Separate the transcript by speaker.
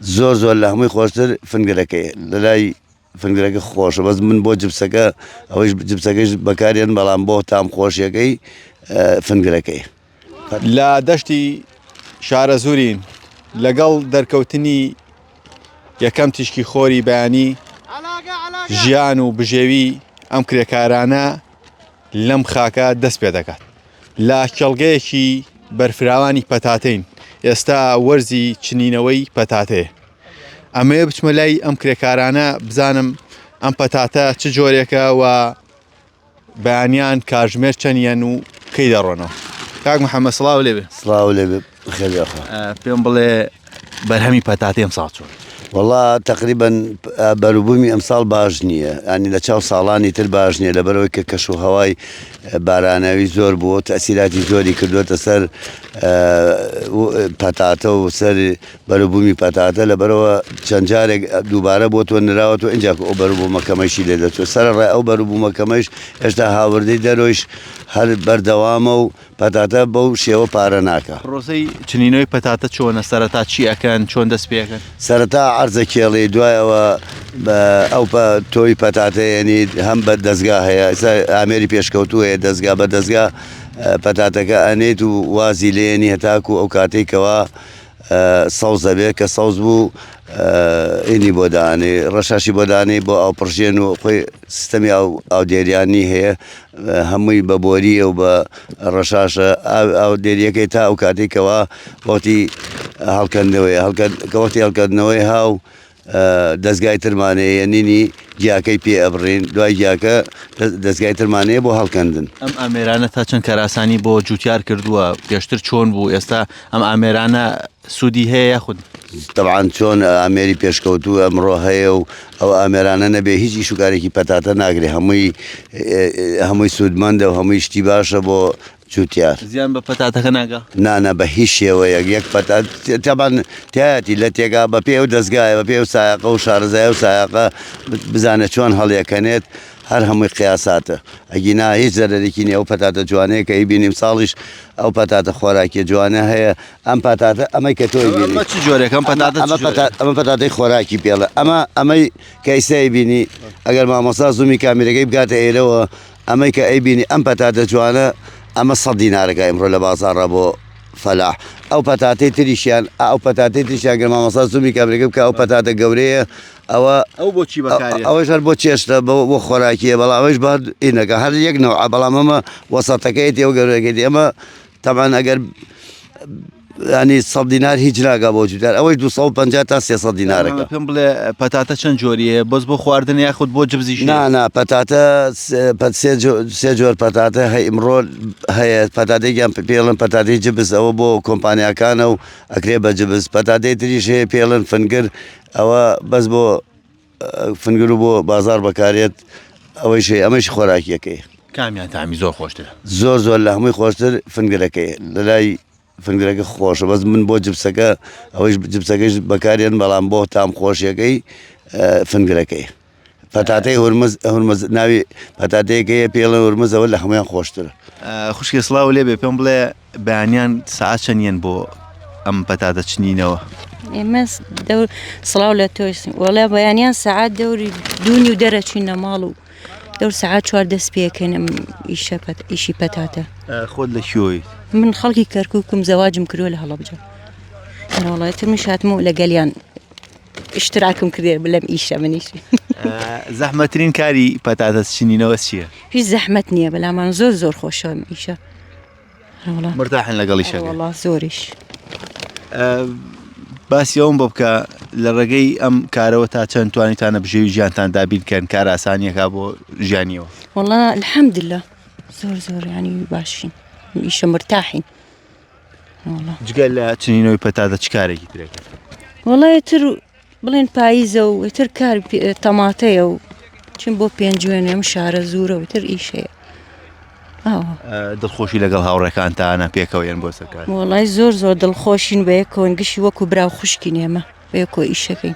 Speaker 1: زۆر زۆر لە هەمووی خۆشتر فنگرەکەی لەلای فنگرەکە خۆشە بەس من بۆ جبسەکە ئەوەیش جبسەکەش بەکارێن بەڵام بۆ تام خۆشیەکەی فنگرەکەی
Speaker 2: لە دەشتی شارە زورین لەگەڵ دەرکەوتنی یەکەم تیشکی خۆری بەیانی ژیان و بژێوی ئەم کرێکارانە لەم خاکە دەست پێ دەکات لە کێڵگەیەکی بەرفراوانی پەتاتەین ئێستا وەرزی چنینەوەی پەتاتەیە ئەمەیە بچمە لای ئەم کرێکارانە بزانم ئەم پەتاتە چ جۆرێکە و بەیانیان کاژمێر چەنیەن و کەی دەڕۆنەوە کاک محەممە سلااو لێ سلااو لێ
Speaker 1: پێم بڵێ
Speaker 2: بەرهەمی پەتاتی ئەم ساڵ چۆن وڵا تقریبن
Speaker 1: بەروبوومی ئەمساڵ باش نییە ئەنی لە چاو ساڵانی تر باش نییە لەبەرەوەی کە کەش و هەوای بارانەوی زۆر بووە تەسیراتی زۆری کردوێتە سەر پەتاتە و سەر بەروبوومی پەتاتە لەبەرەوە چەند جارێک دووبارە بۆ تۆ نراوە و ئەجا ئەو بەروبوومەکەمەشی لێ دەچێت سەر ڕێ ئەو بەروبوومەکەمەش هێشتا هاوردەی دەرۆیش هەر بەردەوامە و پەتاتە بەو شێوە پارە ناکا. پرۆسەی چنینەوەی
Speaker 2: پەتاتە چۆنە سەرەتا چی ئەکەن چۆن دەست پێ ئەکەن؟ سەرەتا عەرزە
Speaker 1: کێڵی دوایەوە بە ئەو پە تۆی پەتاتە یەنیت هەم بە دەزگا هەیە ئێستا ئامێری پێشکەوتوو هەیە دەزگا بە دەزگا پەتاتەکە ئەنێیت و وازی لێنی هەتاکوو ئەو کاتێکەوە سەوز دەبێت کە سەوز بوو ئینی بۆ دانێ ڕەشاشی بۆ دانێ بۆ ئەو پرژێن و خۆی سیستەمی ئەو ئەو دێریانی هەیە هەمووی بە بۆریە و بە ڕەشاشە ئەو دێریەکەی تا ئەو کاتێکەوە وەختی هەڵکەندنەوەی هەڵکەوەتی هەڵکردنەوەی هاو دەزگای ترمان هەیە نینی گیاکەی پێ ئەبڕین دوای گیاکە دەزگای ترمان هەیە بۆ هەڵکەندن ئەم ئامێرانە تا
Speaker 2: چەند کاراسانی بۆ جوتیار کردووە پێشتر چۆن بوو ئێستا ئەم ئامێرانە سوودی هەیە یاخود طبعاان چۆن
Speaker 1: ئامێری پێشکەوتو ئەمڕۆ هەیە و ئەو ئامێرانە نەبێ هیچ ئیشوکارێکی پەتاتە ناگرێ هەمووی هەمووی سوودمەندە و هەمووی شتی باشە بۆ جوتیار. زیان بە پەتاتەکە
Speaker 2: ناگا؟ نا نا بە هیچ
Speaker 1: شێوەیەک یەک پەتات تەبان تایەتی لە تێگا بە پێ و دەستگایە بە پێ و سایەقە و شارەزای و سایەقە بزانێت چۆن هەڵیەکەنێت هەر هەمووی قیاساتە ئەگینا هیچ زەرەرێکی نیە ئەو پەتاتە جوانەیە کە ئیبین ئیمساڵیش ئەو پەتاتە خۆراکیە جوانە هەیە ئەم پەتاتە ئەمەی کە تۆی بینی ئەمە چ جۆرێکم
Speaker 2: پەتاتە ئەمە چ جۆرە؟ پەتا-
Speaker 1: ئەمە پەتاتەی خۆراکی پێڵە ئەمە ئەمەی کە ئیسای بینی ئەگەر مامۆستا زوومی کامیرەکەی بگاتە ئێرەوە ئەمەی کە ئەیبینی ئەم پەتاتە جوانە ئەمە سەد دینارەکە ئیمڕۆ لە بازاڕا بۆ فەلاح ئەو پەتاتەی تریشیان ئەو پەتاتەی تریشیان گەر مامەسا زومی کابرێکم کە ئەو پەتاتە گەورەیە ئەوە ئەو بۆچی بەکارێ
Speaker 2: ئەوەش هەر بۆ چێشتە
Speaker 1: بۆ خۆراکیە بەڵام ئەوش بە ئینەکە هەر یەک نەوە بەڵام ئەمە وەسەتەکەیەتی ئەو گەورەکەی ئەمە تەبان ئەگەر یانی سەد دینار هیچ ناگا بۆ جوتیار ئەوەی 250 تا 300 دینارەکە پێم بڵێ پەتاتە
Speaker 2: چەند جۆری هەیە بەس بۆ خواردن یاخود بۆ جبزی نانا پەتاتە
Speaker 1: سێ جۆر پەتاتە هەی ئمڕۆ هەیە پەتاتێکیان پێڵن پەتاتی جبز ئەوە بۆ کۆمپانیاکانە و ئەکرێ بە جبز پەتاتێ تریش هەیە پێڵن فنگر ئەوە بەس بۆ فنگرو بۆ بازار بەکارێت ئەوەیشی ئەمەش خۆراکیەکەی کامیان تامی
Speaker 2: زۆر خۆشتر زۆر زۆر لە هەمووی
Speaker 1: خۆشتر فنگرەکەی لە لای فنگرەکە خۆشە بەس من بۆ جبسەکە ئەوەیش جبسەکەش بەکارێن بەڵام بۆ تام خۆشیەکەی فنگرەکەی پەتاتەی هورمز هورمز ناوی پەتاتەیەکەیە پێڵە هورمزەوە لە هەمویان خۆشتر خوشکی سلااو
Speaker 2: لێبێ پێم بڵێ بەیانیان سەعات چەند یەن بۆ ئەم پەتاتە چنینەوە؟ ئێمە
Speaker 3: دەور سڵاو لە تۆش وەڵێ بەیانیان سعات دەوری دوونی و دەرەچوین لە ماڵ و دەور سعات چوار دەست پێکەنم ئیشە ئیشی پەتاتە خۆت لە کوێی
Speaker 2: من خەڵکی
Speaker 3: کەرککم زەواجم کرۆ لە هەڵبجە وڵایەت من شاتم و لەگەلیان اشتراکم کردێ بلەم ئیشە منیش زەحمەترین
Speaker 2: کاری پەتاتە چنینەوە چییە؟ هیچ زەحمەت نییە
Speaker 3: بەلامان زۆر زۆر خۆشەوەم ئیشە
Speaker 2: مرتاحن لەگەڵیشە وڵا زۆریش باسی ئەوم بۆ بکە لە ڕێگەی ئەم کارەوە تا چەند توانیتانە بژێوی ژیانتان دابیرکەن کاراسانیەکە بۆ ژیانیەوە وڵا الحەمدلە
Speaker 3: زۆر زۆر ینی باشین ئیشە مرتاحین
Speaker 2: جگە لە چنینەوەی پەتاتە چ کارێکی ترێکرد وڵی تر
Speaker 3: بڵێن پاییزە و ئیتر کار تەماتەیە و چین بۆ پێنجوێنێ ئەم شارە زورە و تر ئیش هەیە
Speaker 2: دڵخۆشی لەگەڵ هاوڕێکانتانە پێکەوە یەن بۆ سەکار وڵای زۆر
Speaker 3: زۆر دڵخۆشین بەیەکۆن گشی وەکو برا
Speaker 2: و
Speaker 3: خوشکی نێمە بەیەکۆ ئیشەکەین.